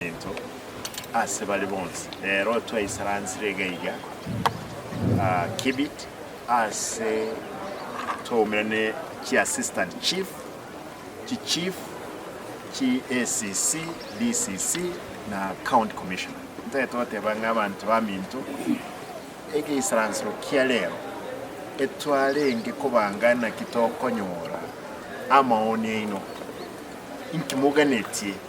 Into ase bare bonsi. Rero twaisaransire gaiga Kibit ase twaumire ne chi Assistant Chief, chi Chief, chi ACC, DCC na County Commissioner. Ntagete goteba ng'a abanto baminto egeisaransero kia rero etwarenge kobanga naki tokonyora amaoni aino. Inki moganetie?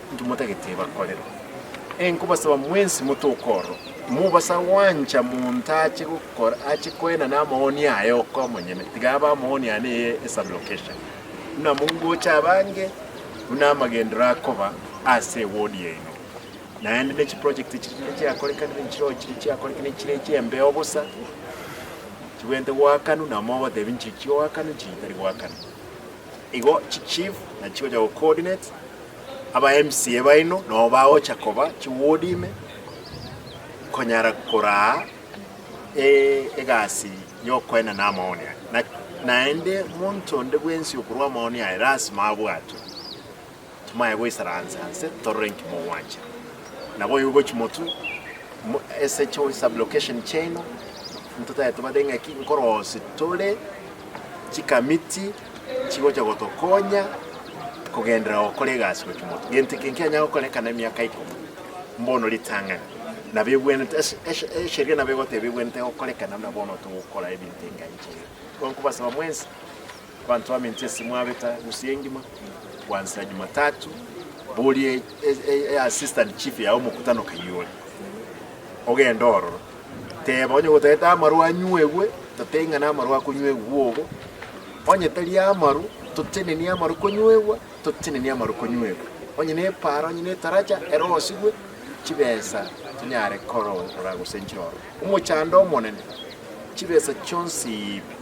Intwe motagete bakorerwa ee nkobasaba mwensi motoke ororo, mobasa gwancha monto ache gokora ache koena namoni aye oka omonyene, tiga abe amoni ane eye esub location, buna mongocha abange buna amagendero akoba ase eward yaino. Naende ne chiproject chiri chinde chiakorekanire nchirogo chiri chiakorekire nchire chiembeo bosa, chibwente goakanu na mogotebi nchichioakanu nchichitari goakana. Igo chi chief na chigocha go coordinate aba MCA baino nabo bagocha koba chi ward ime konyara koraa egasi yokoenda na amaoni aya. Naende monto onde bwensi okorua amaoni aya lasima abwatwe. Timwaya goisara anse anse torore inki mogwancha. Nabo oyo ogochi motwe mo SHO sublocation chiaino ntotaete bade ng'aki nkorosi tore chikamiti chigocha gotokonya kogenderera gokora egasi gochi motwe. Gento eke nkianya gokorekana emiaka ikomo mbono ritang'ani nabo ebwenerete ase eshe esheria nabo egoteba ebwenerete gokorekana na bono togokora ebinto enga inche iga. Gonkobasaba mwensi Abanto bamenche ase mwabeta gusii engima gwansa Jumatatu, boria e assistant chief ya omokutano Kayole ogende ororo, teba onye gotagete amarwa anywegwe, tote ing'ana amarwa akonywegwa bobo, onye tari amarwa totenenie amarwa konywegwa, totenenie amarwa konywegwa, onye ne epara, onye ne taracha erosigwe chibesa tonyare korora gose nchirorwe omochando omonene, chibesa chionsi ibe.